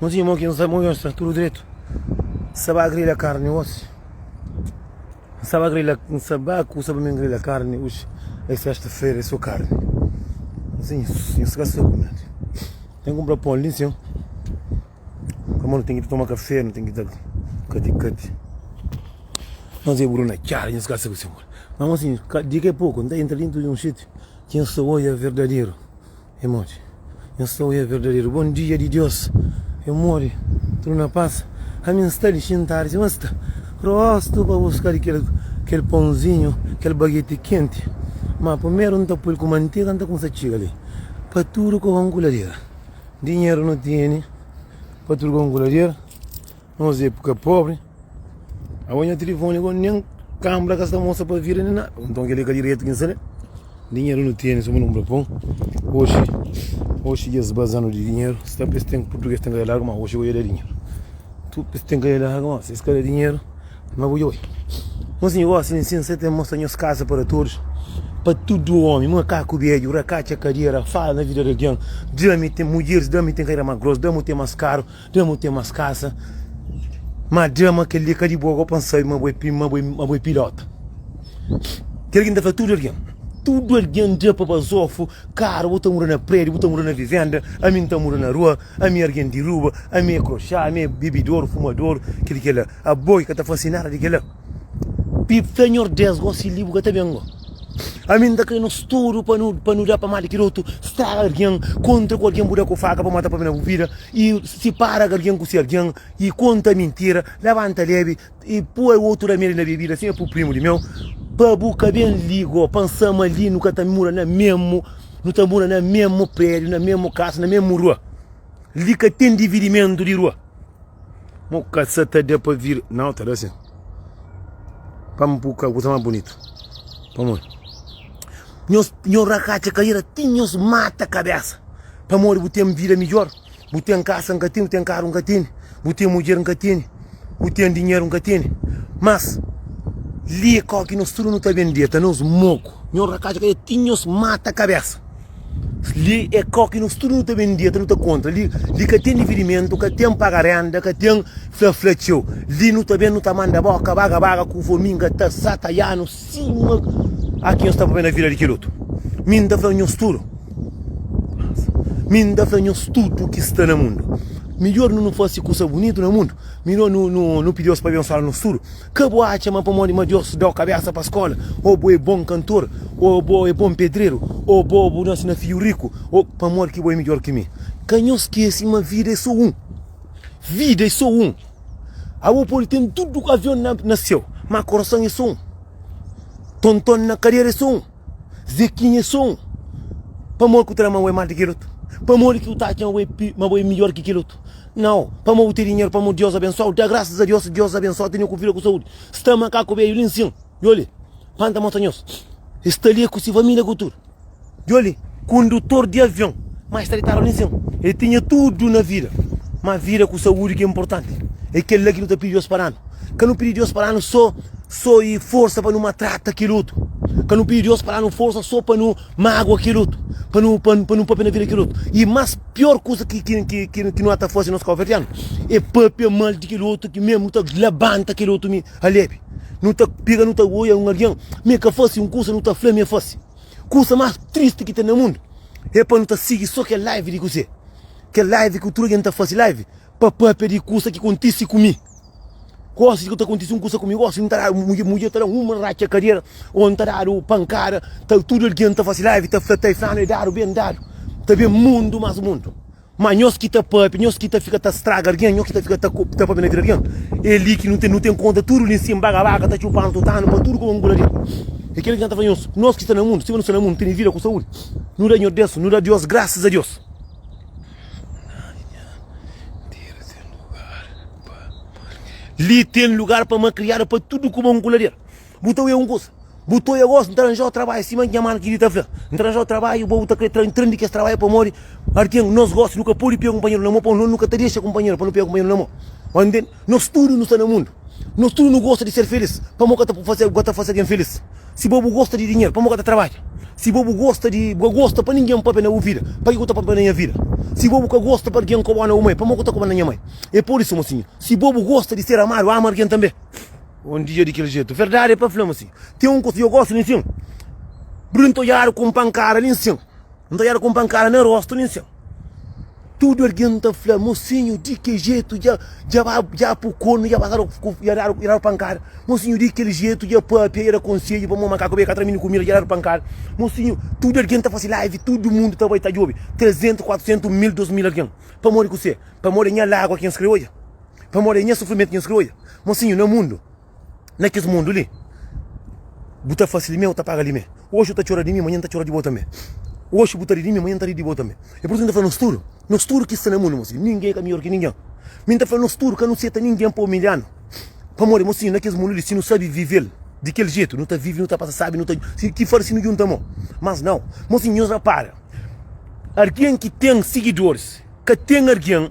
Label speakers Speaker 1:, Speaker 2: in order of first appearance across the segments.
Speaker 1: Nu tinha mon ki N sabe move-m sta tudu dretu N sa ba grilha karni osi N sa ba grilha N sa ba kusa pa mi grilha karni oxi É sesta-fera é so karni Nsi nsi nsi ka sa kumenti Ten kunpra pon li nsi Pamodi nu ten ki ta toma kafé nu ten ki ta kati kati Nos é buru na txada nsi ka sa kuzê Má nsi di ki a poku N ta entra dentu di un sítiu Ki N sta odja verdaderu. E mori. Nhos ta oia verdaderu bon dia di Dios. E mori. Tudu na pas. Ami N sta li xintadu si. Mas sta. Rostu pa buskadu kel, kel ponzinhu, kel bageti kenti. Ma pumeru N ta pui-l ku mantega, N ta kumsa txiga li. Pa tudu kokonkulader. Dinheru nu tene pa tudu kokonkulader. Nos é puka pobri. Awa nha telefoni go nen kambra ka sta mostra pa vira nen nada. Nton keli ka diretu ki N sabe. Dinheru nu tene suma nu bra pon. Oxi, oxi es bazanu di dinheru. Sta pa es ten purtuges ten ka da largu ma oxi go ya da dinheru. Tu pa es ten ka da largu ma si es ka da dinheru ma bu djobe. Nos sin gosi di nsinsa ten mostra nhos kasa para todus, pa tudu omi, makaku bedju, rakatxa, kadera, fala na vida di algen, dja mi ten mudjeris, da mi ten kadera ma gros, da mu ten mas karu. Dja mu ten mas kasa ma dja ma kel li ka di bo ago pa N sabe ma bo é ma bo é pilota kel ki N ta fla tudu algen tudu algen dja pa bazofu karu bu ta mura na prédiu bu ta mura na vivenda ami N ta mura na rua ami é algen di ruba ami é kroxá ami é bibidoru fumadoru kel li kel la abo ki ka ta fase nada di kel la. Pip ta nhordes gosi libu ka ta ben go Ami nta kre nos tudu pa nu pa nu da pa mali ki dotu Straga argen kontra ku argen bu da ku faka pa mata pabena bu vida i sipara ka argen ku si argen i konta mintira labanta lebi i pua otu ramedi na bebida sin e pu primu di meu pa bu ka ben li go pa nsa ma li nu ka ta mura na memu nu ta mura na memu prediu na memu kasa na memu rua li ka ten dividimentu di rua. Mo ka sa ta da pa vira. Nau, ta da sin. Pa mi pur ka kusa mas bunitu. Pamodi nhos nhos rakatxa karera ti nhos mata kabesa. Pamodi bu ten vida midjor, bu ten kasa, N ka tene, bu ten karu, N ka tene, bu ten mudjer, N ka tene, bu ten dinheru, N ka tene. Mas li e kau ki nos tudu nu ta ben deta, nos moku. Nhos rakatxa karera ti nhos mata kabesa. Li é kau ki nos tudu nu ta ben dia ta nu ta kontra li li ka ten dividimentu ka ten paga renda ka ten fla fla txeu li nu ta ben nu ta manda boka baga baga ku vo mi nga ta sa ta ya nu sima aki nhos ta pabia na vila di kel otu mi nta fla nhos tudu mi nta fla nhos tudu ki sta na mundu midjor nu nu fase kusa bunitu na mundu midjor nu nu nu pidi Deus pa abensoa nos tudu. Ka bu atxa ma pamodi ma Deus da-u kabésa pa skóla, ô bo é bon kantor, ô bo é bon pedreru, ô bo bu nase na fidju riku, ô pamodi ki bo é midjór ki mi? Ka nhos skese ma vida é sô un. Vida é sô un. Abo pode ten tudu avion na séu, má korason é sô un. Tonton na kadera é sô un. Zekinha é só un. Pamodi ki bu ta da ma bo é más di kel otu? Pamodi ki bu ta atxa ma bo é midjór ki kel otu? Nau, pamodi bu ten dinheru, pamodi Diós abensua-u. Da grásas a Diós si Diós abensua-u, tene ku vida, ku saúdi. Si ta ama kaku bedju li N sin, djo li, pa N ta mostra nhos. El sta li ku se família, ku tudu. Djo li, kondutor di avion, má el sta ditadu li N sin. El tinha tudu na vida, má vida ku saúdi ki é inportanti. É kel-la ki nu ta pidi Diós pa da-nu. Ka nu pidi Deus pa da-nu so so i forsa pa nu matrata kel otu. Ka nu pidi Deus pa da-nu forsa so pa nu magua kel otu, pa nu pa nu papia na vida kel otu. I más pior kuza ki ki ki nu ka ta fase nos káuverdianu é papia mal di kel otu, ki mésmu nu ta labanta kel otu mi alebe. Nu ta pega nu ta oia un algen ma el ka fase un kuza, nu ta fla ma el fase. Kuza más tristi ki ten na mundu é pa nu ta sigi so kel live di kuzê? Kel live ku tudu algen ta fase live pa pâpia di kuza ki kontise ku mi. Gosi ku ta kontise un kusa ku mi gosi, N ta dadu mudjer, mudjer ta da-m un ratxa kadera ô N ta dadu pankada ta Tudu algen ta fase live, ta fla ta e flanu e dadu ben dadu Ta ben mundu más mundu Má nhos ki ta pâpia, nhos ki ta fika ta straga algen Nhos ki ta fika ta ta pâpia na vida algen E li ki nu ten, nu ten konta tudu li nsin Baga baga ta txupa-nu, ta uta-nu pa tudu koma un bula dil E kel ki N ta fla nhos, nos ki sta na mundu, sima nu sta na mundu, nu tene vida ku saúdi Nu da Nhos Deus, nu da Diós grasas a Diós. Li ten lugar pa ma kriadu pa tudu kuma un kulader. Bu ta uia un kusa. Bu ta uia gosi, N ta ranjau trabalhu, sima nha manu ki di ta fla. N ta ranjau trabalhu, bo bu ta kre tra intra di kes trabalhu pamodi arken nos gosi nu ka podi pega kunpanheru na mo, pa nos nu ka ta dexa kunpanheru pa nu pega kunpanheru na mo. Ba ntende? Nos tudu nu sta na mundu. Nos tudu nu gosta di ser filis. Pamô ka ta fase, ka ta fase algen filis? Si bo bu gosta di dinheru, pamô ka ta trabadja? Si bo bu gosta di, bu ka gosta pa ningen papia na bu vida, pa ki ku ta papia na nha vida? Si bo bu ka gosta pa algen koba-u na bu mai, pamô ku ta koba na nha mai? E por isu, mosinhu, si bo bu gosta di ser amadu, ama algen tanbe. Un dia di kel jetu. Verdadi pa fla, mosinhu, ten un kusa yo gosta li nsin, bruntoiadu ku un pankada li nsin. N ta odjada ku un pankada na rostu nen sen. Tudu algen ta fla, Mosinhu, di ki jetu dja, dja ba, dja pu konu, dja ba dadu, dja dadu, dja dadu pankada. Mosinhu, di kel jetu dja pâpia, dja da konsedju, pamodi makaku ben ka tra mindi kumida, dja dadu pankada. Mosinhu, tudu algen ta fase live, tudu mundu ta bai ta djobe, trezentu, kuatrisentu, mil, dos mil algen. Pamodi kusé? Pamodi é nha lágua ki nhos krê odja. Pamodi é nha sufrimentu ki nhos krê odja. Mosinhu, na mundu. na kes mundu li. Bu ta fase limé, bu ta paga limé. Oxi bu ta txora di mi, manhan ta txora di bo tanbe. Oxi bu ta ri di mi, manhan ta ri di bo tanbe. E pur isu mi ta fla nos tudu, nos tudu ki sta na mundu, mosinhu, ningen ka midjor ki ningen. Mi ta fla nos tudu, ka nu seta ningen pa umilhanu. Pamodi, mosinhu, na kes mundu li, si nu sabe vive-l di kel jetu, nu ta vive, nu ta pasa sabi, nu ta. Si ki farse nu djunta mo. Mas nau. Mosinhu, nhos rapara, argen ki ten sigidoris ka ten argen,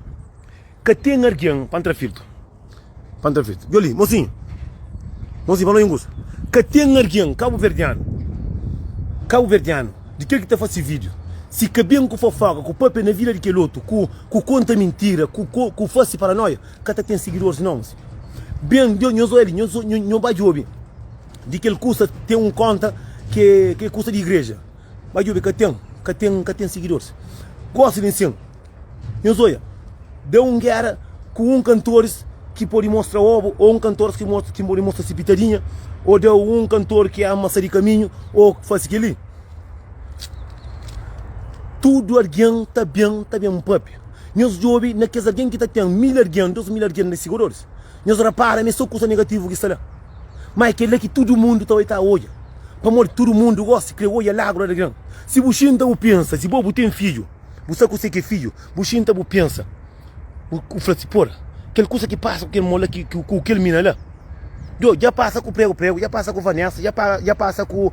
Speaker 1: ka ten argen pa N tra filtru. Pantavetu. Djo li, mosinhu. Mosinhu, fla-m un kusa. Ka ten argen kabuverdianu, kabuverdianu, di kel ki ta fase vídiu, si ka ben ku fofoka, ku pâpia na vida di kel otu, ku, ku konta mintira, ku, ku fase paranóia, ka ta ten sigidoris nau, mosinhu. Ben, djo, nhos oja li, nhos, nhos ba djobe di kel kusa, ten un konta ki é, ki é kusa di igreja. Ba djobe, ka ten, ka ten, ka ten sigidoris. Gosi di nsin. Nhos oia, dá un géra ku un kantoris ki pode mostra obu ô un kantoris ki mostra, ki pode mostra si pitadinha, ô dá un kantor ki ama sa di kaminhu ô ki fase kel-li. Tudu algen ta ben, ta ben pâpia. Nhos djobe na kes algen ki ta ten mil algen, dôs mil algen di sigodoris, nhos rapara ma é sô kusa negativu ki sta la. Má é kel-la ki tudu mundu ta bai ta odja. Pamodi tudu mundu gósi krê odja lagru di algen. Si bu xinta, bu pensa, si bo bu ten fidju. Bu sa kuse ki é fidju? Bu xinta, bu pensa, bu fla si, Pora, kel kusa ki pasa ku kel mo la, ku kel mina la, djo, dja pasa ku Pregu Pregu, dja pasa ku Vanesa, dja pasa ku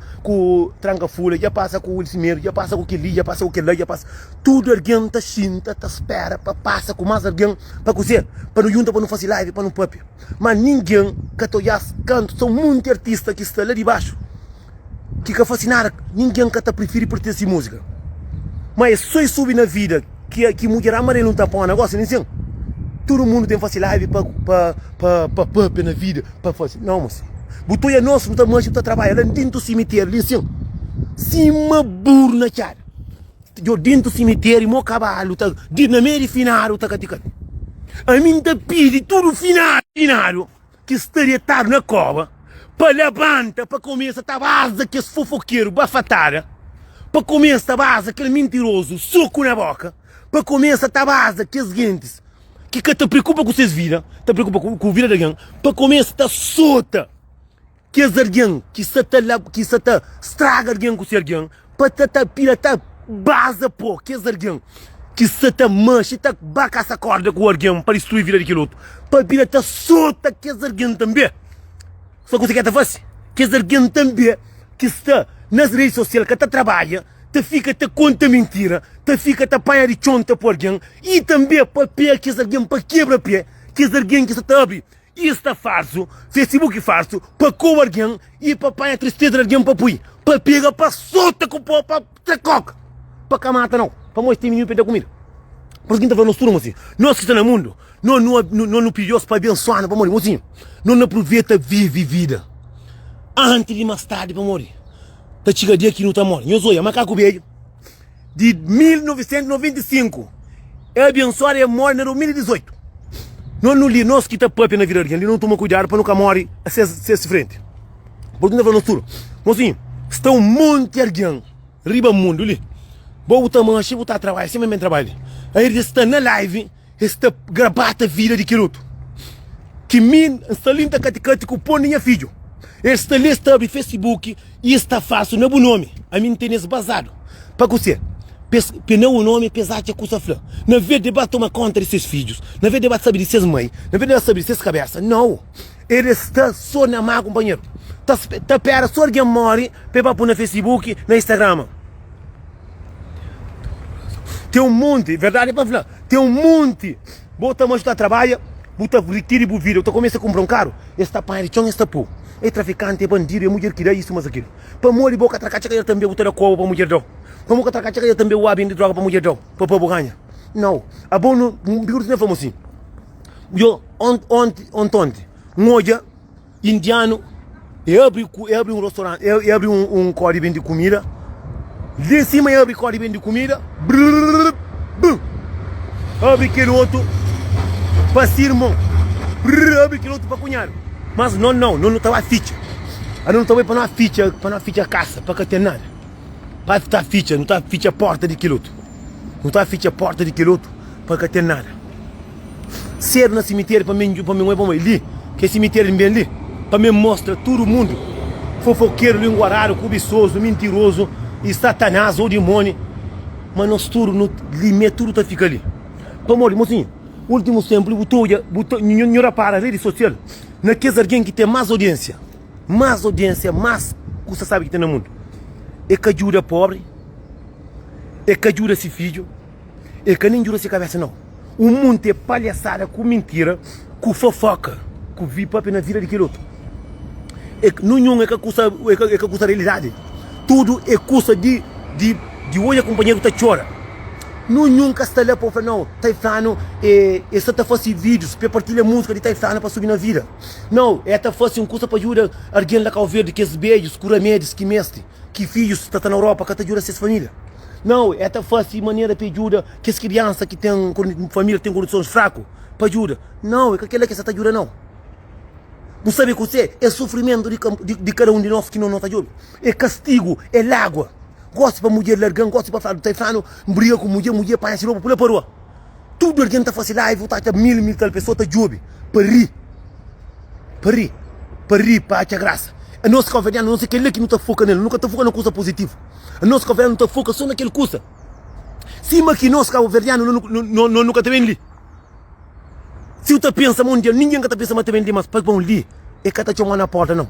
Speaker 1: Tranka Fula, dja pasa ku Wilson Medo, dja pasa ku kel-li, dja pasa ku kel-la, dja pasa. Tudu algen ta xinta, ta spera pa pasa ku más algen. Pa kuzê? Pa nu djunta, pa nu fase live, pa nu pâpia. Má ningen ka ta odja-s kantu sô monti artista ki sta la dibaxu ki ka fase nada ninguém ka ta prefiri pertence musica ma é só e subi na vida ki mudjer amarelu não ta pao na gosi nin sen tudo mundo tem fase live pa pa papia na vida pa fase não mo senhor bu ta oia nos bu ta manxa bu ta trabalha la dentro do cemitério li sin sima buru na txada djo dentro do cemitério mo cavalo ta dentro na meio de finado ta catica ami ta pidi tudo finado finado. ki sta detadu na koba pa labanta pa kumesa ta baza kes fofokeru bafatada pa kumesa ta baza kel mintirozu soku na boka pa kumesa ta baza kes gentis ki ka ta preokupa ku ses vida ta preokupa ku vida di algen pa kumesa ta sota kes algen ki sa ta ki sa ta straga algen ku se algen Pa ta ta pira ta baza po kes argen ki sa ta manxe ta ba kasa korda ku argen pa distrui vida di kel otu pa pira ta sota kes argen tanbe sa kusa ki el ta fase kes argen tanbe ki sta nas redi sosial ka ta trabadja ta fika ta konta mintira ta fika ta panha di txonta pa argen i tanbe pa pega kes argen pa kebra pe kes argen ki sa ta abri I sta farsu, Facebook farsu pa koba argen i pa panha tristeza di argen pa pui, pa pega, pa sota ku po, pa tra koka, pa ka mata nau, pamodi temi nhu pa e ta kumida. Por isu ki N ta fla nos tudu ma si nos ki sta na mundu nos nu nos nu pidi Deus pa abensua-nu pamodi mosinhu nos na pruveta vivi vida antis di mas tardi pamodi ta txiga dia ki nu ta mori. Nhos oia makaku bedju. Di 1995, el abensoadu e el móre na 2018. Nos nu li, nos ki ta pâpia na vida algen li, nos nu toma kuidadu pa nu ka móre ses frenti. Purtu nu ta fla nos tudu, Mosinhu, sta un monti algen riba mundu li, bo bu ta manxa, bu ta trabadja sima mi, mi ta trabadja li. Airdi sta na live. Es ta grabata vida di kel otu. Ki mi N sta li, N ta katikati ku pon di nha fidju. Es sta li, es ta abri Facebook i es ta falsu na bu nomi. Ami N tene es bazadu. Pa kuse? Pa es pena bu nomi, pa es atxa ku sa fla. Na ves di ba toma konta di ses fidjus, na ves di ba sabe di ses mai, na ves di ba sabe di ses kabesa, nau! E de sta so na ma kunpanheru ta ta pera so algen mori pa e ba pu na fesibuki na istagrama ten un monti verdadi pa fla ten un monti bo ta majuta trabadja bu ta rikiri bu vida bu ta kumesa kunpra un karu e sta panha di txon e sta pu e trafikanti e bandidu e mudjer ki da isu mas akilu pamodi bo ka tra ka txekadjer tanbe bu ta da koba pa mudjer dau pamo ka tra ka txekadjer tanbe bu ba bindi droga pa mudjer dau pa pa bu ganha nau abo no biruti na fla mo si. Yo, ont, ont, ontonti, N odja indianu e abri, e abri un rostoranti, e abri un kó di bendi kumida, li sima e abri kó di bendi kumida, brrrr, bum, abri kel otu pa si irmon, brrrr, abri kel otu pa kunhadu, mas no nau, no no ta ba fitxa, anu no ta bai pa no fitxa, pa no fitxa kasa, pa ka ten nada, pa ta fitxa, no ta fitxa porta di kel otu. Nu ta fitxa pórta di kel otu pa ka ten nada. Sedu na simitériu pa mi pa mi nhobe pamodi li ke simitériu ben li pa mi mostra tudu mundu fofokeru linguaradu kubisozu mintirozu i satanás o dimoni ma nos tudu nu li me tudu ta fika li pamodi mosinhu ultimus tenpu li bu ta odja bu ta nhu ripara redi sosial na kes algen ki ten más odiensia. más odiênsia, más kusa sábi ki ten na mundu. El ka djuda póbri, el ka djuda se fidju, el ka nen djuda se kabésa. Nau! Un monti é palhasada, ku mintira, ku fofóka, ku vi pâpia na vida di kel otu. El, nunhun é ka kusa, é ka, é ka kusa realidadi. Tudu é kusa di, di, di odja kunpanheru ta txora. Nunhun ka sta la pa bu fla, nau, Taiflanu é, é sô ta fase vídjus, pa el partilha múzika di Taiflanu pa subi na vida. Nau, e ta fase un kusa pa djuda argen la Kau Verdi, kes bedjus ku ramedis ki mestri, ki fidjus ta ta na Europa ka ta djuda ses família. Nau, e ta fase manera pa e djuda kes kriansa ki ten família ki ten kondisons fraku pa djuda. Nau, e ka kel-la ki e sa ta djuda nau. Bu sabe kuse? E sufrimentu di kada un di nos ki no ta djobe. E kastigu, e lágua. Gosi pa mudjer larga-m, gosi pa fla-m, ta fla-m, N briga ku mudjer, mudjer panha se ropa, pula pa rua. Tudu algen ta fase live, u ta atxa mil, mil tal pesoa ta djobe pa ri, pa ri, pa ri, pa atxa grasa. Anos kabverdianu, anos é kel-la ki nu ta foka ne-l, nu ka ta foka na kusa puzitivu. Anos kabverdianu nu ta foka so na kel kusa, sima ki nos kabverdianu no-no-no nu ka ta ben li. Si u ta pensa ma un dia ningen ka ta pensa ma ta ben li mas, pa bon li e ka ta txomau na porta nau.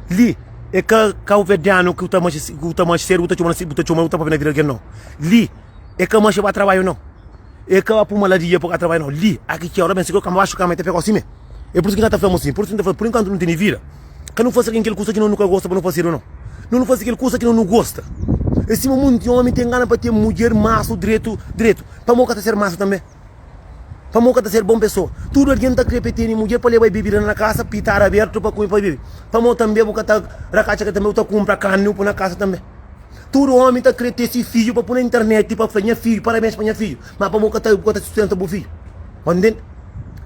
Speaker 1: Li e ka kabverdianu ki u ta manxe, ki u ta manxe sedu, bu ta txomau, bu ta txomau, bu ta papia na vida algen nau. Li. e ka manxa ba trabalhu nau e ka ba puma la di dia pa ka trabalhu nau li a ki txeu ra ben si kau kama baxu kama e ta fika osi me e pur isu ki na ta fla mu si pur isu ki na ta fla pur inkuantu nu tene vida ka nu fasi ken kel kusa ki no nu ka gosta pa nu fasedu nau no nu fasi kel kusa ki no nu gosta e sima munti omi ten gana pa ten mudjer masu dretu dretu pamo ka ta ser masu tambe pamo ka ta ser bon pesoa tudu algen ta kre pa e tene mudjer pa leba bebida na kasa pi tara abertu pa kume pa bebe pamo tambe bu ka ta ra ka atxa ke tambe bu ta kunpra kani bu pui na kasa tambe Tudu omi ta kre ten si fidju pa pu na internet pa fla nha fidju parabens pa nha fidju ma pamo ka ta bu ka ta sustenta bu fidju bai ntende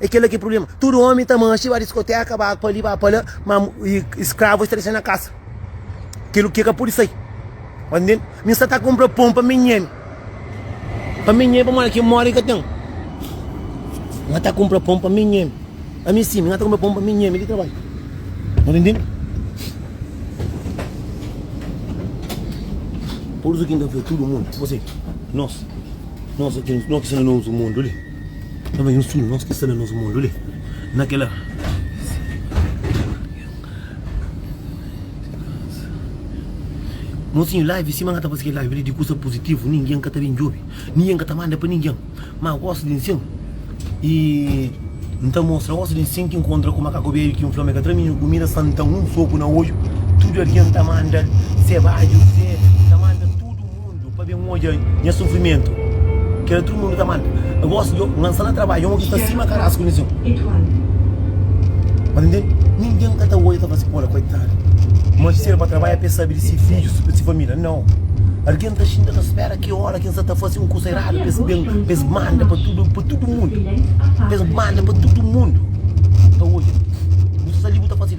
Speaker 1: e kela ki problema tudu omi ta manxi ba diskoteka ba pali ba pala ma skravu es ta dexa na kasa kilo ki ka pudi sai bai ntende mi sta ta konpra pon pa mi nhemi. Pa mi nhe pamodi ki modi ka ten nha ta kunpra pon pa mi nhe pa mi sim nha ta kunpra pon pa mi nhe mi di trabadju no ta intendi pursu ki nta fla tudu mundu tipo si nos nos ki nos ki sta na nos mundu li nos ki sta na nos mundu li na kila. Mosinhu live sima n'ka ta faze kel live li di kusa puzitivu ningin ka ta ben djobe ningin ka ta manda pa ningin ma gosi di nsin y n'ta mostra gosi di nsin ki nkontra ku makaku bedju ki n'fla ma e ka tra mi nha kumida san n'ta un soku na odju tudu algen ta manda se badju se n'ta manda tudu. Mundu pa ben odja nha sufrimentu Kel atru mundu ta manda N gosi djo N lansa na trabadju Djon ki sta sima karasku nes djon Mas nden Ningen ka ta odja ta fase kola Koitadu Ma si el ba trabadja pa el sabe di si fidjus Si família Nau Algen ta xinta ta spera ki ora ki el sa ta fase un kusa eradu pa es ben Pa es manda pa tudu pa tudu mundu Pa es manda pa tudu mundu Ta odja Bu sa ta libu ta fase.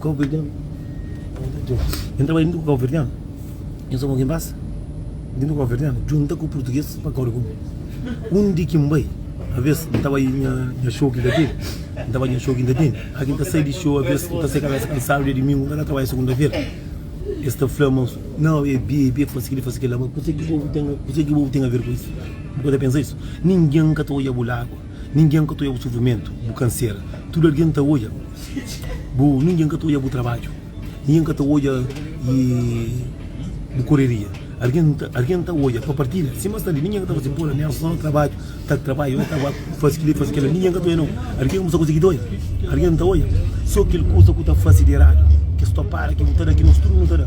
Speaker 1: Kauverdianu N trabadja djuntu ku kauverdianu N sta ku algen basa djuntu ku kauverdianu Djunta ku purtuges pa kóre ku mi Un di ki N bai Abes N ta bai nha xou ki N ta tene N ta bai nha xou ki N ta tene Aki N ta sai di xou abes N ta sai kabésa kansadu Dia dumingu N ka ta trabadja segunda-fera Es ta fla ma Nau é bi, é bi, é faze kili, é faze kila Má kuzê ki bu obi ten aver ku es? Bu ka ta pensa es? Ningen ka ta odja bu lágua. Ningen ka ta oia bu sufrimentu, bu kansera. Tudu algen ta oia bu, ningen ka ta oia bu trabadju, ningen ka ta oia bu koreria. Algen ta oia pa partilha, sima sta li, ningen ka ta faze bola, nen só trabadju, ta trabadja, oi ta faze kili, oi faze kila. Ningen ka ta oia nou, algen kumsa konsigi ta oia, algen ta oia só kel kuza ku ta fase di eradu. Kes topada ki bu ta da, ki nos tudu nu ta da.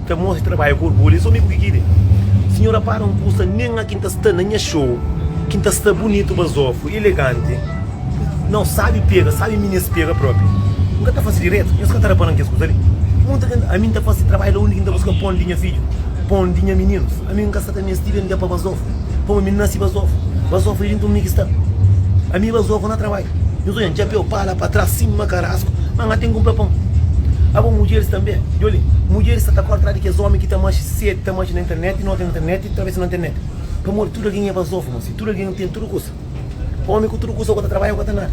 Speaker 1: Ta mostra trabalhu ku orgulhu es omi ku ki ki de Sinhor apara un kusa nen a kin ta sta na nha show kin ta sta bunitu bazofu ileganti nau sabi pega sabi mi nes pega propi N ka ta fasi diretu nhos ka ta rapanan kes kusa li Munta ken ami N ta fasi trabalhu la undi ki N ta buska pon di nha fidju pon di nha mininus ami N ka sa ta mesti ben dia pa bazofu. Pamo mi nasi Bazofo Bazofo li dintu mi ki sta Ami Bazofo na trabalha Nhos odja-m txapéu pa la pa tras sima karasku Ma nha ten kunpra pon Abo mudjeris tanbe djoli Mudjeris sta ta kóre tras di kes ómi ki ta maxe sedi Ta maxe na internet i nota na internet i ta trabesa na internet Pamodi tudu algen é Bazofo Masi tudu algen ten tudu kusa. Omi ku tudu kusa, bo ta trabadja, bo ka ten nada.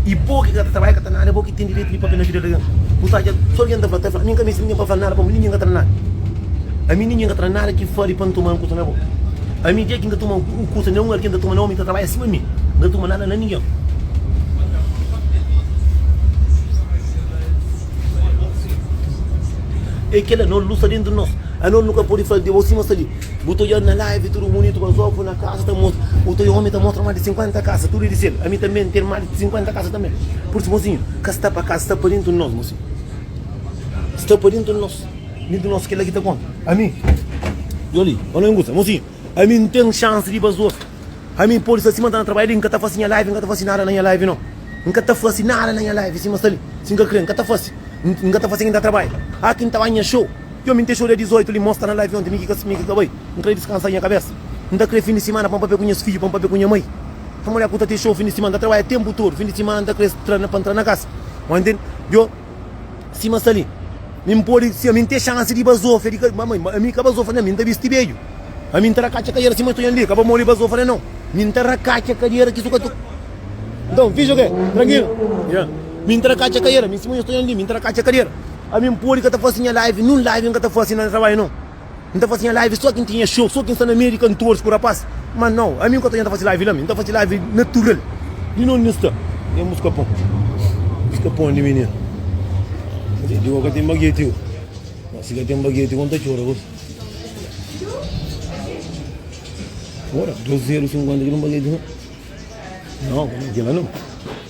Speaker 1: I bo ki ka ta trabadja, ka ten nada, é bo ki ten direitu di papia na vida di algen. Bu ta atxa si algen ta fla, ta fla. Mi N ka meste ningen pa fla-m nada, pamodi ningen ka tra-m nada. Ami ningen ka tra-m nada ki fla di pa N toma un kusa na bo. Ami, dia ki N ta tuma un kusa na un algen, N ta tuma na omi ki ta trabadja sima mi. N ka tuma nada na ningen. É kel-la, anor lu sta dentu di nos. Anor nu ka pode fla di bo sima sta li. Bu ta odjadu na live tudu bunitu mas ovu na kaza ta mostra otu omi ta mostra mas di 50 kaza tudu di sel ami tanbe ten mas di 50 kaza tanbe pur isu mozinhu ka sta pa kaza sta pa dintu di nos mozinhu sta pa dintu di nos dintu di nos kila ki ta konta ami yo li pa no ingusa mozinhu ami n ten chance di ba zos ami podi sta sima ta na trabadja li n ka ta fasi nha live n ka ta fasi nada na nha live no n ka ta fasi nada na nha live sima sta li si n ka kre n ka ta fasi n ka ta fasi kin ta trabadja aki n ta ba nha show Txeu mi nte xoda 18 li mostra na live onte mi ki ka mi ki ka bai n kre diskansa nha kabesa n ta kre fin di simana pa n papia ku nhas fidju pa n papia ku nha mai nha mulher ku ta te xou fin di simana ta trabalha tempu todo fin di simana n ta kre tra pa n tra na kasa oi ntende djo sima sta li mi n podi si ami n te xansi di bazofa di ka mama ami ka bazofa nha mi n ta bisti bedju ami n ta rakatxa kadera sima sta un dia ka ba modi bazofa ne nau mi n ta rakatxa kadera ki su ka ta nton fidju ke trankila nha mi n ta rakatxa kadera mi sima nha sta un dia mi n ta rakatxa kadera. Ami N pode ka ta fase nha live nun live N ka ta fase na trabadju no N ta fase nha live so ki N ten nha show so ki N sta na meiu di kantores ku rapaz ma now ami N konta dja N ta fase live la mi N ta fase live natural di nonde N sta ten muska pon muska pon di mininu di bo ka ten bageti oh ma si ka ten bageti bo N ta txora bo ora 2 zeru 50 ki ten bageti no now kila no.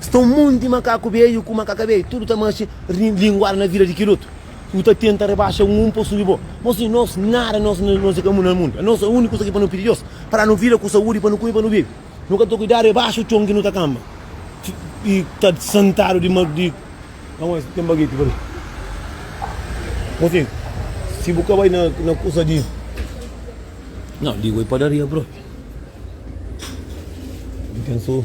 Speaker 1: Sta un monti makaku beiu ku makaka beiu, tudu ta maxe linguada na vida di kil otu. Bu ta tenta rebaxa un pa subi bo. Bo sibi nos nada, nos nos e kamu na mundu. Nos e uniku kusa ki pa no pidi Deus pa danu vida ku saudi pa nu kumi pa nu bibi. Nu ka ta kuidadu e baxu con ki nu ta kamba i ta santadu di ma di Aos ten bageti pali. Bo sibi si bu ka bai na na kusa di Nau ligoi padaria bro. Ten so.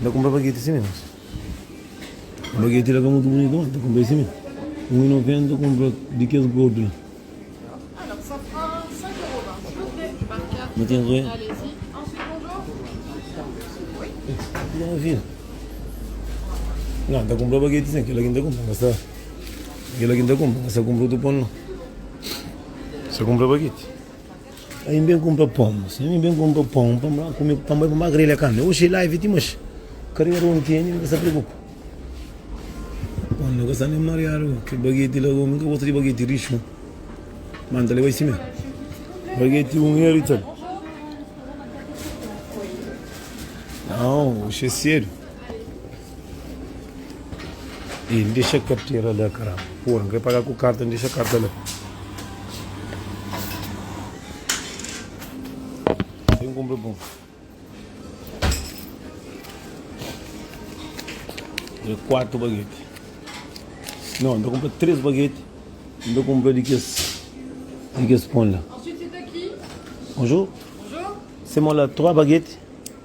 Speaker 1: N ta kunpra bageti sime mas bageti la ka mutu bunitu ma N ta kunpra e sime un y noventa N ta kunpra di kes gordu la
Speaker 2: ma ten roe
Speaker 1: na N ta kunpra bageti si kila ki N ta kunpra N ta kunpra otu pon no N ta kunpra bageti. Aí n ben kunpra pon, si ami n ben kunpra pon pa mba kume ku pamodi pa mba grelha kanbe. Oxi live ti maxi, karera un tene mi ka sta preokupa. Pon ka sta nen mariadu, ki bageti la un mi ka gosta di bageti rixu, ma n ta leba i simé. Bageti un i irita-l. Nau, oxi é sedu. E n dexa kartera la kara. Pura, n krê paga ku karta, n dexa karta la. Sem compra pão. É quatro baguetes. Não, ainda compra três baguetes. Ainda compra de que de que pão lá. Ensuite, c'est à qui?
Speaker 2: Bonjour.
Speaker 1: Bonjour.
Speaker 2: C'est moi là, trois
Speaker 1: baguettes.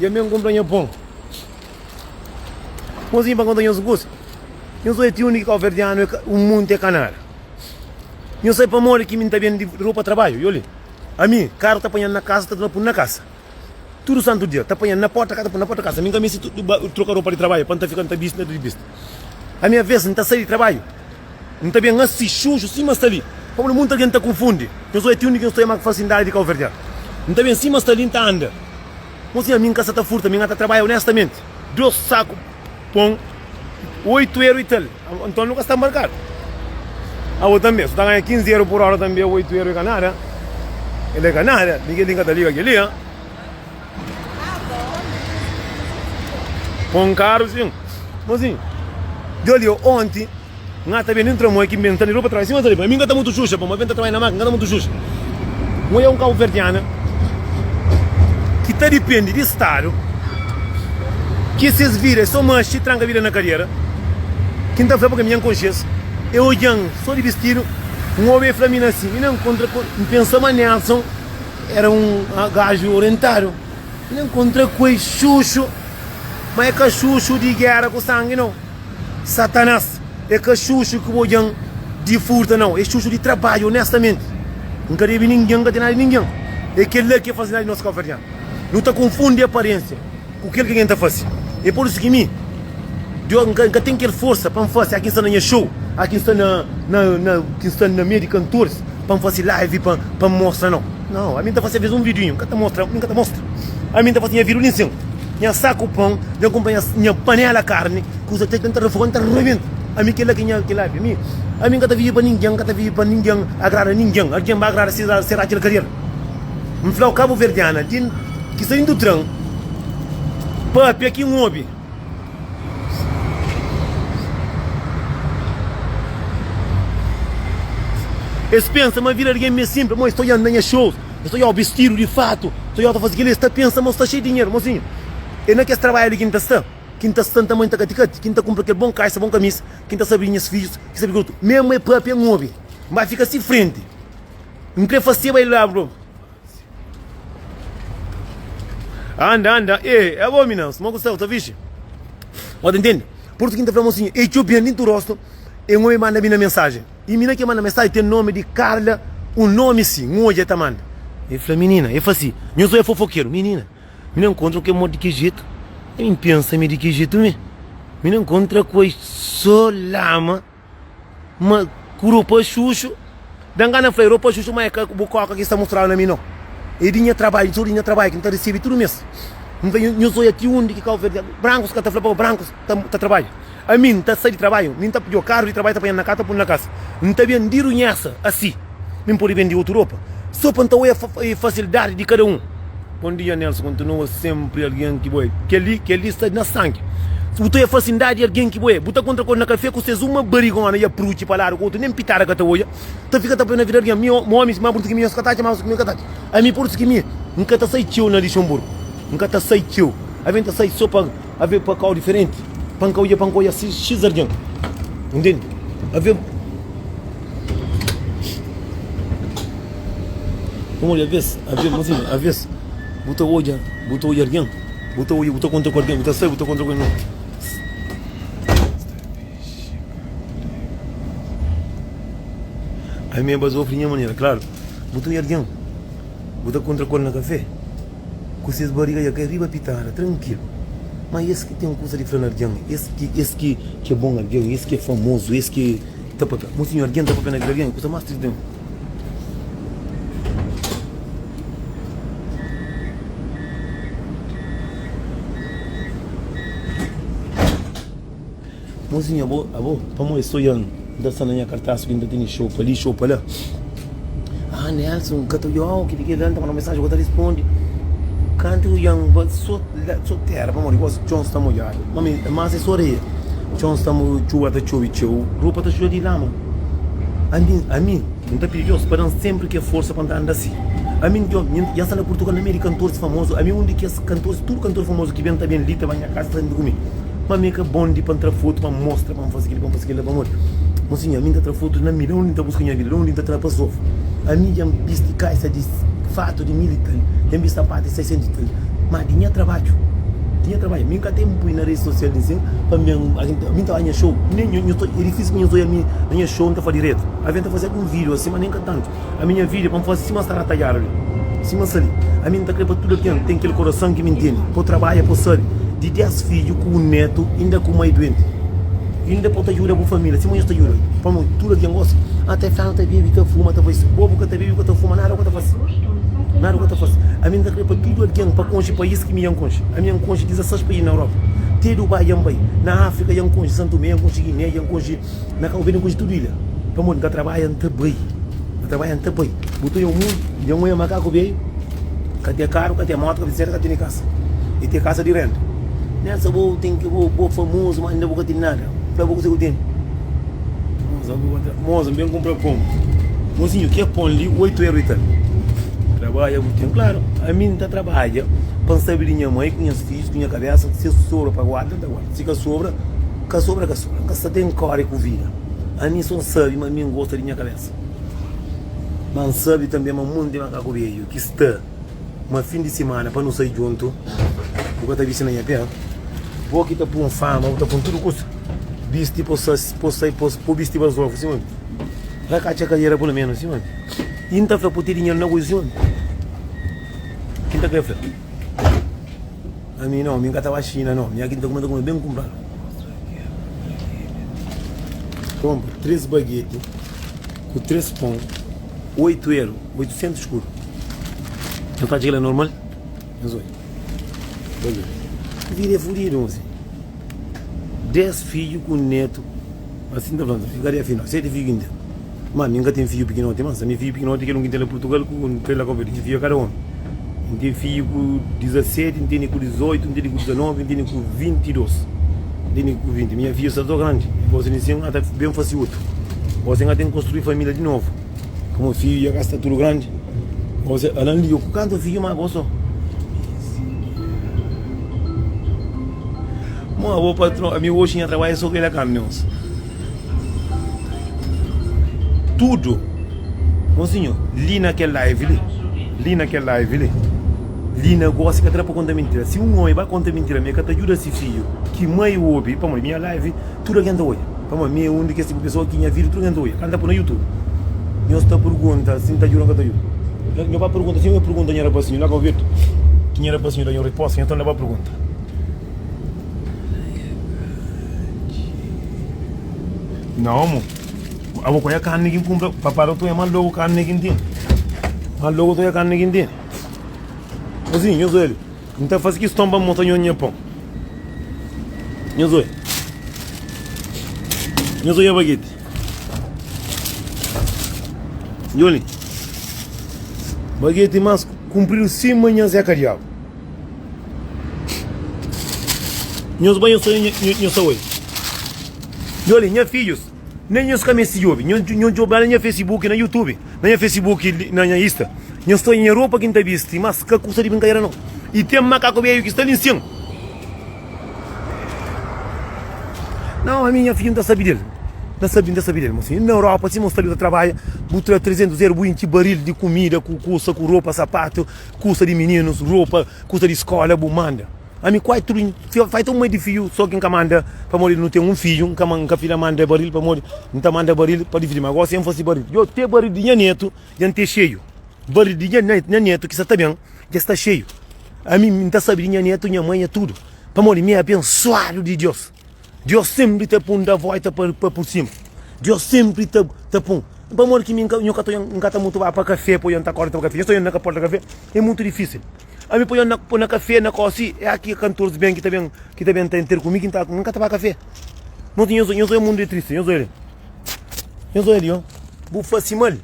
Speaker 1: E amê n konpra nha pon. Pon si n pa konta nhos kusa. Nhos oi ti undi ki kauverdianu e un monti e kanara. Nhos sai pamodi ki mi n ta bende di ropa tarbaju? Yoli, ami, karu ta panhadu na kasa, ta tornadu punu na kasa. Tudu santu dia, ta panhadu na porta kasa, ta punu na porta kasa. Mi n ka misti troka ropa di tarbaju pa n ta fika, n ta bisti, n ta bisti. Ami, aves, n ta sai di tarbaju. N ta ben asi suju sima Stalin. Pablo, Munti algen ta konfundi. Penso é ti undi ki N sta é más fasindadi di kauverdianu. N ta ben sima Stalin ta anda. Mo sinha, mi N ka sa ta furta, mi N ta trabadja onestamenti. Dos saku pon, oitu eru y tal. Anton nu ka sta markadu. Abo tanbe, si bu ta ganha kinzi eru pur ora tanbe, oitu eru é ka nada. El é ka nada. Ningin li N ka ta liga kel-li. Pon karu sin. Mozinhu, djol yo onti N ata ben di N tra moi ki N ben sta di ropa travesa. Sima sa di bai, mi N ka ta mutu xuxa pamo. N ben ta trabadja na makina, N ka ta mutu xuxa. Moi é un kabuverdiana ki ta dipende di stadu ki ses vida é so maxi tranka vida na kadiera. Ki N ta fla pa ke-m, nha N konxe es, e odja-m so di bistidu. Un obi e fla mi na si, mi na nkontra ku N pensa ma Nelson. Era un gaju orientadu. El enkontra ku es xuxu, ma e ka xuxu di gera ku sangi nau. Satanas e ka xuxu ki bo djan di furta nau, e xuxu di trabadju onestamenti. N ka debi ningin, N ka ten nada di ningin. E kel-la ki e faze nada di nos ka oferdjan. Nu ta konfundi aparensia. ku kel ke N ta fase. E por isu ki mi, Diogo, N ka ten kel forsa pa N fase. Aki N sta na nha show, aki N sta na, na, na, ki N sta na meiu di kantoris pa N fase live pa pa N mostra nau. Nau, ami N ta fase alvês un videoinho, N ka ta mostra, N ka ta mostra. Ami N ta fase nha virulinha insin, nha saku pãu, nha kunpanha, nha panela karni, kusa ta tenta refoga, N ta rebenta. Ami kel-la ki nha, kel-la. Mi, ami N ka ta vive pa ningen, N ka ta vive pa ningen agrada ningen. Algen ba agrada, sera, sera kel kariera. N fla-u, kabuverdiana di ki sta indu tran pâpia ki N obi. Es pensa ma vida di algen mi é sinpli, ma es ta odja-m na nha xous, es ta odja-u bistidu di fatu, es ta odja-u ta faze kel-li, es ta pensa ma bu sta xei di dinheru. Mozinhu, é na kes trabadju li ki N ta sta, ki N ta sta, N ta mai, N ta kati kati, ki N ta kunpra kel bon kaxa, bon kamisa, ki N ta sérvi nhas fidjus, ki sérvi kel otu. Mésmu é pâpia N obi. N bai fika si frenti. N kre faseba el rabi nobu. Anda, anda. E, é bom, mina. Suma ku sal, tá fixe. Ó, tá entende? Porto quinta fala mocinha, e txeu bem dentro rosto, e um homem manda mina mensagem. E mina que manda mensagem tem nome de Carla, um nome sim, um hoje tá manda. E fala, menina, e fala assim, eu sou é fofoqueiro, menina. Mina encontra que morre de que jeito? Eu pensa me de que jeito me? Mina encontra com a solama. Ma ku ropa xuxu, da-m gana fla-i, ropa xuxu, ma é ka bu kóka ki sta mostrau na mi nau. É di nha trabadju, txeu di nha trabadju ki N ta resebe tudu mês. N fla, Nhos odja ti undi ki Kabu Verdianu ta. Brancus ka ta fla pa bo, brancus ta trabadja. Ami, N ta sai di trabadju, mi N ta pidjo karu di trabadju ta panha-m na ka, ta pun na kasa. N ta ben di runhesa, asi. Mi N pode bende otu ropa so pa N ta oia fasilidadi di kada un. Bom dia Nelson kontinua senpri algen ki bo é kel-li kel-li sta na sangi bu ta oia fasilidadi di algen ki bo é bu ta kontra ku el na kafé ku ses uma barigona i apruchi pa ladu ku otu nen pitada ka ta oia ta fika ta poi na vida algen mi omi si ma brutu ki mi nhos ka ta atxa ma brutu ki mi ka ta atxa ami brutu ki mi N ka ta sai txeu na Lixenburgu N ka ta sai txeu ami N ta sai so pa Avê pa kau diferenti. Pa N ka odja, pa N ka odja xis algen. Intende? Avê. N odja avês, avê, mas imagina, avês bu ta odja, bu ta odja algen, bu ta odja, bu ta kontra ku algen, bu ta sai, bu ta kontra ku algen. Ami é ba zofri nha manera, klaru. Bu ta odja algen, bu ta kontra ku el na kafé. ku ses bariga dja kai riba pitada, trankilu. Má es ki ten kuza di fla na algen, es ki es ki é bon algen, es ki é famozu, es ki ta papia. Monsinhor, algen ta papia na vida di algen é kuza más tristi di mim. Mozinhu abo, abo, pamo é so Yan, N ta sta na nha kartas ku i N ta tene xopa li, xopa la Haa Nelson, ka ta oiau ki di kel la N ta manda-u mensaji, bo ta responde Kantu Yan ba so la, so tera Pamodi gosi txon sta modjadu Mame, é mas é so areia Txon sta mo, txuba ta txobi txeu Ropa ta xuda di lama Ami, ami, N ta pidi Dios pa da-m senpri kel forsa pa N ta anda si Ami, N ta obi, Yan sta na Purtugal na meiu di kantoris famozu Ami, un di kes kantoris, tudu kantoris famozu ki ben ta ben li ta ba nha kasa ta rende ku mi. Ma mi ka bon di pa N tra fotu pa N mostra pa N fase kel-li, pa N fase kel-la pamodi Monsinhor, mi N ta tra fotu na mi, da undi N ta buska nha vida, da undi N ta tra pa sofa? Ami dja N bisti kaisa di fatu di mil i tal, dja N bisti sapatu di sesentu i tal, ma di nha trabadju, di nha trabadju, mi N ka ta N pui na redi sosial di nsedu pa mi ben algen ta oja nha xou, nen, é difisi pa nhos oja mi na nha xou N ta fla diretu, algen ta fase algun vídiu asi, ma nen ka tantu. Ami nha vida pa N faze sima sta na tadjada li sima sa li Ami N ta kre pa tudu algen ten kel korason ki mi ntende Po trabadja po sabe di dés fidju ku un netu inda ku mai duenti Inda po ta djuda bu família sima nhos ta djuda pamodi tudu algen gosi Ah ta fla nu ta bebe ta fuma ta faze Bo bu ka ta bebe ka ta fuma nada bu ka ta faze Nada bu ka ta faze Ami N ta kre pa tudu algen pa konxe pais ki mi dja N konxe Ami dja N konxe 16 pais na Europa Te Dubai dja N bai na Afrika dja N konxe San Tomé dja N konxe Guiné dja N konxe. Na ka ovelha kuji tudu ilha pamodi n ka trabadja n ta bai n ka trabadja n ta bai bu ta iomu dja n oia makaku beiu ka te karu ka te moto ka bisikleta ka tene kasa e te kasa di renda nessa bu ten ki bu bo famozu ma inda bu ka tene nada fla bu kuse ku tene moza n ben kunpra pon mozinhu ke pon li oitu eru e ta mi trabadja bu ten klaru ami n ta trabadja pa n sabe di nha mai ku nhas fidju ku nha kabesa si sobra pa guarda n ta guarda si ka sobra. Ka sobra ka sobra, nka sta ten kóre ku vida Ami sô nsabe ma mi ngosta di nha kabésa Ma nsabe tanbe ma munti makaku bedju ki sta Ma fin di simana pa nu sai djuntu Bu ka ta bisti na nha pé Bo ki ta pun fama, bu ta pun tudu kusa Bisti po sa, po sai, po sa, po bisti bazofu Sima mi, ra ka atxa kariera pulu ménus Sima mi, i nta fla po ti dinheru na kuju Sima mi, ki nta kre fla. Ami no, mi n ka ta ba Xina no, nha ki n ta kume, n ta kume ben kunpra. Konpra três bagete ku três pon, oitu eru, oitusentus kuru. Nhos ta atxa kel-la normal? Nhos odja. Nhos odja. Vida é fudidu, mosi. Dés fidju ku un nétu. Asi N ta fla-m, Fi, kade afinal? Séti fidju ki N ten? Má, mi N ka ten fidju pikinoti, má N sabe ma fidju pikinoti é kel un ki N ten la Purtugal ku N tra-l la Kóba Verde. Dja fidju é kada ómi. N ten fidju ku dizaseti, N tene ku dizoitu, N tene ku dizanovi, N tene ku vinti-dos, N tene ku vinti. Minha fidju sta sô grandi. Gósi di si N ata ben fase otu. Gósi N ata inkonstrui família di novu. Kuma fidju dja ka sta tudu grandi, gosi el Alan liga ku kantu fidju má gosi o. Mon avô patron, ami oxi nha trabadju é so grelha kamions. Tudu, mon sinhô, li na kel live li, li na kel live li, li na gosi ka ta da pa konta mintira. Si un ómi ba konta mintira ma el ka ta djuda si fidju ki mai obi, pamodi nha live. Tudu algen ta odja. Pamodi mi é un di kes tipu pesoa ki nha vídiu tudu algen ta odja. Ka N ta poi na YouTube. Nhos ta pergunta si N ta djuda ô ka ta djuda. Nha pai pergunta txeu. El pergunta nha rapasinhu la, Govitu, ki nha rapasinhu da nha un riposta ki nhos ta na ba pergunta. Na omu, abo k'odja karni ki N kunpra. Papa ta odja más lógu karni ki N tene. Más lógu ta odja karni ki N tene. Azinhu nhos odja li. N ta faze kiston pa N mostra nhos nha pon. Nhos odja. Nhos odja bageti. Djon li. Bageti más kunpridu sima nha Zeka Diagu. Nhos ba nhos ta odja, nhos ta odja. Djon li, nha fidjus. Nen nhos ka meste djobe. Nhos djobe la na nha Facebook, na YouTube, na nha Facebook, na nha Insta. Nhos ta odja nha ropa ki N ta bisti, mas ka kusa di brinkadera nau. I ten makaku beiu ki sta li nsin. Nau, ami nha fidju N ta sabi del. N ta sabi, N ta sabi del. Mosi, na Europa, sima bu sta li bu ta trabadja, bu tra 300 eru, bu intxi baril di kumida ku kusa, ku ropa, sapatu, kusa di mininus, ropa, kusa di skola, bu manda. Ami kuai tudu N fai ta un mai di fiu Só ki N ka manda Pamodi nu ten un fidju N ka fla ma N da el baril Pamodi N ta manda baril pa dividi Ma gósi N faze baril Djo, te baril di nha netu dja N ten xeiu Baril di nha netu ki sa ta ben dja sta xeiu Ami N ta sabe di nha netu, nha mai, nha tudu Pamodi mi é abensuadu di Diós. Diós senpri ta pun da vóita pa pur sima Diós senpri ta pun Pamodi ki mi nhu ka ta N ka ta mutu ba pa kafé Poi N ta korda ta ba kafé Nhu sta na porta kafé É mutu difísil Ami poi N na kafé na kósi É aki ki kantores ben ki ta ben Ki ta ben ta inter ku mi ki N ka ta ba kafé Noti nhos oi nhos oi mundu é tristi Nhos oi li Nhos oi li oh Bu fase mal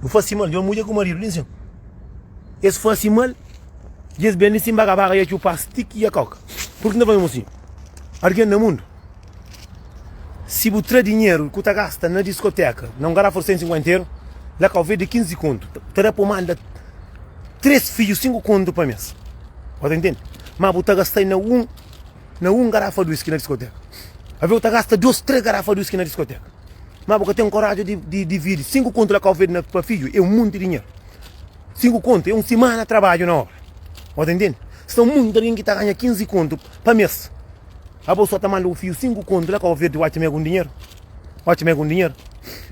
Speaker 1: Bu fase mal Nhos mudjer ku maridu li nsin Es fase mal Djes ben li sin baga baga ya txupa stick ya coca Purki na fla mesmu sin? Argen na mundu si bu tra dinheru ku ta gasta na diskoteka na un garafu di 150 euro la ka ovedu di 15 kontu ta da pa manda 3 fiju 5 kontu pa mes bo ta intendi ma bu ta gastai na un na un garafa di whisky na diskoteka aveu ta gasta 2 3 garafa di whisky na diskoteka ma bu ka ten koraju di di dividi 5 kontu la ka ovedu na pa fiju e un munti dinheru Sinku kontu é un simana trabadju na obra. Bo ta intende? Sta munti algen ki ta ganha 15 kontu pa mes. Abo so ta manda bu fiju sinku kontu la Kau Verdi, bu atxa ma é algun dinheru? Bu atxa ma é algun dinheru?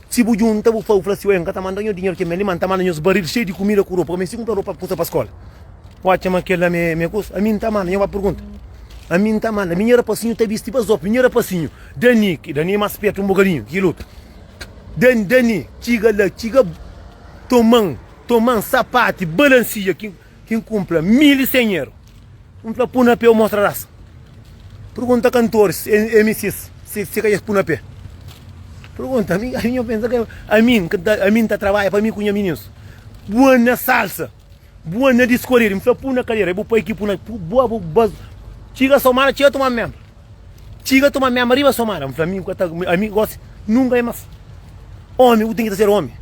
Speaker 1: Si bu djunta, bu fla, bu fla si, Oi, N ka ta manda-u nha dinheru, kel-mé li, má N ta manda nhos baril xeiu di kumida ku ropa, kumé si kunpra ropa pa kusa pa skola. Bu atxa ma kel-la ma é kusa? Ami N ta manda, nha bai pergunta. Ami N ta manda. Mi nha rapasinhu ta bisti bazópiu, nha rapasinhu. Dani, ki Dani é más spertu un bokadinhu ki kel otu. Dani Dani txiga la txiga toman toman sapati balansia ki ki n kunpra mil i sen eru n fla pu na pé u mostra rasa pergunta kantoris MCs si si ka es pu na pé pergunta ami ami nho pensa ke ami ami n ta trabadja pa mi ku nha minins bua na salsa Bu anda diskorridu, mi fla pu na kadeira, é bu pai ki pu na. Bu aba bas. Txiga somada, txiga toma mema. Txiga toma mema riba somada, mi fla mi ka ta, ami gosi nunka é mas. Omi bu ten ki ta ser omi.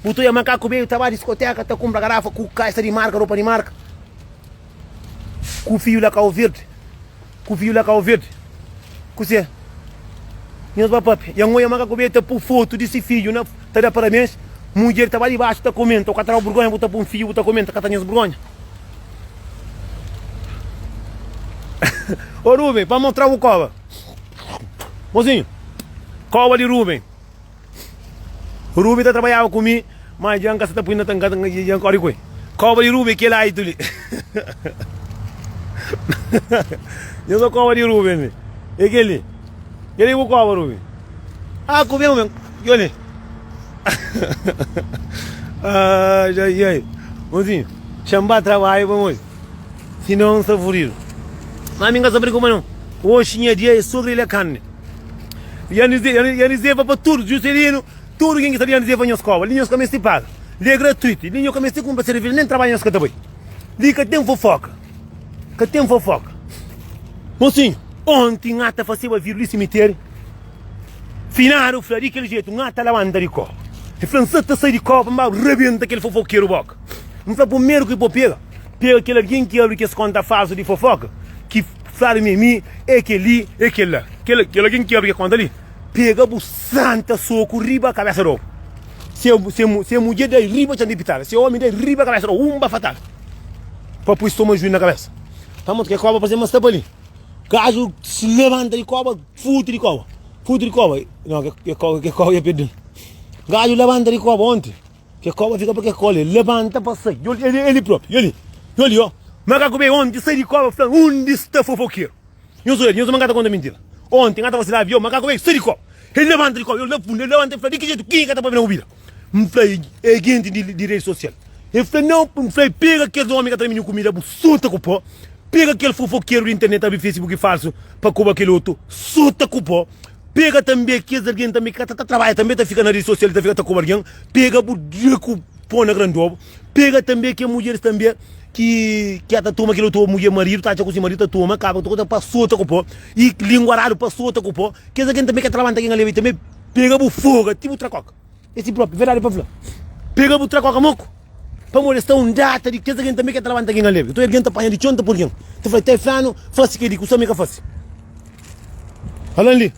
Speaker 1: Bu ta oia makaku beiu ta ba diskoteka ta kunpra garafa ku kaixa di marka, ropa di marka, ku fiu la kauvirdi. Ku fiju la kau verdi ku se nhos ba papia. Ya ngoia maka ku be ta pu fotu di si fiju na ta da parabens. Mudjer ta ba dibaxu ta komenta, o ka ta dau burgonha bu ta pu un fiju bu ta komenta ka ta nhos burgonha. O Ruben pa mostrau bu koba. Mozinhu, koba di Ruben. Rubi ta trabadjaba ku mi, má dja N ka sta ta poi na tanka, dja N kóre ku el. Kóba di Rubi é kel aitu li. Dja N sa kóba di Rubi li, é kel li. Kel ki bu kóba, Rubi. Aa, ku ben, ku ben, djobe li. Aa, dja i ai. Mozinhu, xa N ba trabadja pamodi sinon N sta fudidu. Má mi N ka sta preokupa non, oxi nha dia é sô grelha karni. Yanis leva pa tudu Juserinu, tudu ken ki sabe Yanis leva nhos koba. Li nhos ka meste paga, li é gratuitu, li nhos ka meste kunpra serveja, nen trabadja nhos ka ta bai. Li ka ten fofoka, ka ten fofoka. Mosinhu, onti N ta faseba viru li simiteri, Finadu fla di kel jetu, N ta labanta di koba. El fla, N sa ta sai di koba pa N ba rabenta kel fofokeru boka. N fla, Pumeru ki bo pega, pega kel algen ki abri kes konta falsu di fofoka, ki. Fladu mi, mi é kel-li, é kel-la. Kel algen ki obi kel kónta li, pega bu santa soku riba kabésa d'ô. Se mudjer da-l riba txan di pitada, se ómi da-l riba kabésa d'ô, un ba fatal. Pa poi stoma juiu na kabésa. Tá mô, kel kóba parse ma sta pa li. Gajo se labanta di kóba, futi di kóba. Futi di kóba, nau, kel kóba dja perde-l. Gajo labanta di kóba, ónti. Ke koba fika pa ke kola, el labanta pa sai. Yo li, yo li, yo li propi, yo li, yo li, ó. Makaku be onti sai di koba fla, Undi sta fofokeru? Nhos oja di, nhos obi ma ka ta konta mintira. Onti n'ka ta vazila avion, makaku be sai di koba. El labanta di koba, yo li la fundu, el labanta, el fla, Di ki jetu? Kenha ka ta pabia na bubida? N'fla, E genti di redi sosial. El fla, Nau, n'fla, e pega kes omi ka ta ramiña kumida, bu sota ku po. Pega kel fofokeru di internet ta abri fesibuki falsu pa koba kel otu, sota ku po. Pega tanbe kes algen tanbe ki ka ta ta trabadja tanbe ta fika na redi sosial ta fika ta koba algen, pega bu dia ku po na grandoba, pega tanbe ke mudjeris tanbe ki ki ya ta toma kel otu mudjer maridu ta atxa ku si maridu ta toma kaba ta ta sota ku po i lingua radu pa sota ku po, kes algen tanbe ki ya ta labanta algen aleva i tanbe pega bu foga ti bu tra koka. É si própi, verdadi pa fla. Pega bu trakoka moku. Pamodi es ta undata di kes algen tanbe ki é ta labanta algen alegri. Nton algen ta panha di txon ta pô-l gen. Ta fla, Tê flanu fase kel-li ku sô mi ka fase. Alan Lee,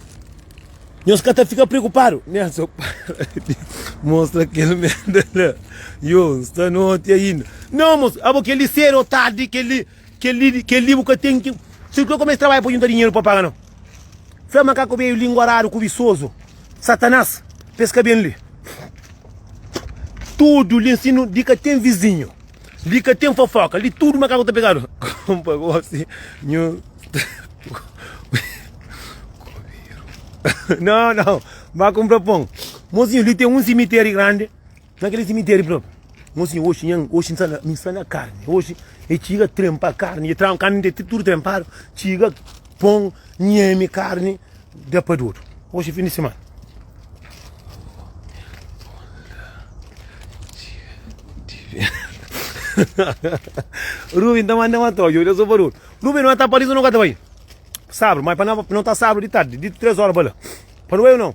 Speaker 1: Nhos ka ta fika preokupadu. Nelson, Para di mostra kel merda la. Yo, N sta noti ainda. Nau, mosu. Abo, kel-li séru ô tardi, kel-li Kel-li, kel-li bu ka ten ki. Ser ku el kumesa trabadja pa djunta dinheru pa paga no. Fla makaku beiu lingua radu, kubisozu, satanás, pa es ka ben li. Tudu li ensinu, li ka ten vizinhu, li ka ten fofoka, li tudu makaku ta pegadu. Konpa gosi nhu Kubiru. No, no, ba kunpra pon. Mozinhu, li ten un simiteri grandi. Na kel simitéri própi. Mon sinhor, oxi nha, oxi nsa na, nsa na karni. Oxi e txiga trenpa karni, e tran, karni te tudu trenpadu, txiga pon, nheme karni da pa dodu. Oxi fin di simana. Ruben ta manda ma ta odja, odja so pa dodu. Ruben, no ta pa rizu, no ka ta bai. Sabru, mai pa na, no ta sabru di tardi, di tres ora pa la. Pa nu bai o no?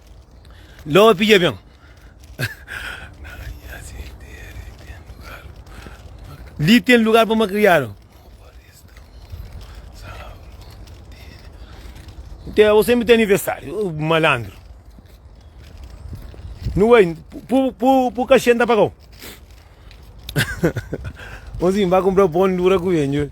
Speaker 1: Ló pidja ben. Li ten lugar pa malkriadu. Te, o sempre tem aniversário, o malandro. Não é? Por, por, por cachê não pagou. Onzinho, vai comprar pão dura com ele.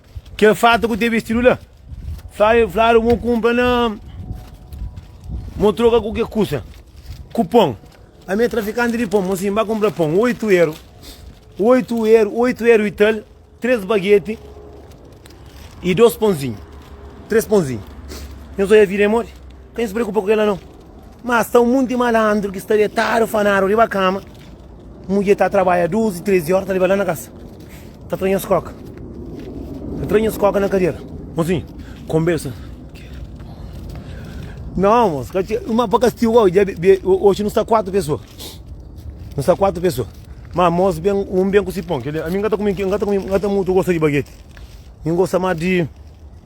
Speaker 1: Kel fata ku te bestidu la fla-l, Fladu mo kunpra na. Mo troka ku ke kusa? Ku pon. Ami e trafikanti di pon. Mo sin, ba kunpra pon, oitu eru. Oitu eru, oitu eru i tal, tres bageti i dos ponzinhu. Tres ponzinhu. Nhos oja vida e mori? Ka nhos preokupa ku kel anou. Má sta un monti malandru ki sta detadu fanadu riba kama, mudjer ta trabadja duzi, trezi óra, ta leba la na kasa, ta tra nhos kóka, ta tra nhos kóka na kadera. Mozinhu, konbersa. Não, moço, uma para castigo hoje, hoje não está quatro pessoas. Não está quatro pessoas. Mas moço, bem, um bem com cipão, que a mim gata comigo, gata comigo, gata muito gosta de baguete. Ninguém gosta mais de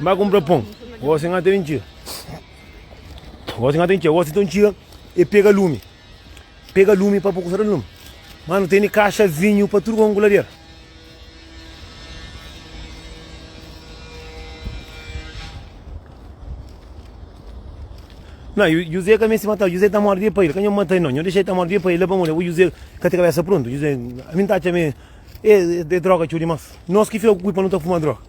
Speaker 1: N bai kunpra pon, gosi N ata ben txiga Gosi N ata ben txiga Gosi nton txiga e pega lumi Pega lumi pa bu kusada lumi Manu tene kaxa vinhu pa tudu konku ladera Nan, Juzé ka meste mata-l, Juzé ta mora di pa el, ka nho mata-l no, nho dexa el ta mora di pa el, la pamodi abu Juzé ka ten kabesa prontu, Juzé, ami N ta atxa ma e, e, e droga txeu dimas, nos ki fika ku kulpa nu ta fuma droga.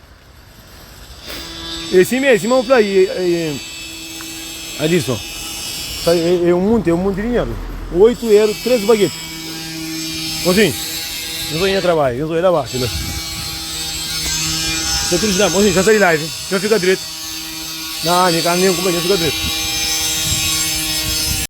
Speaker 1: É si mé, si mé un fla i e Adison. Sa e e un munti, e un munti dinheru. Oitu eru, tres bageti. Mosin, nu ta nha trabadja, nhos bai la baxi la. Sa Cris djam, mosin, dja sa di live, nhos fika dretu. Na ami ka nen ku bai, nhos fika dretu.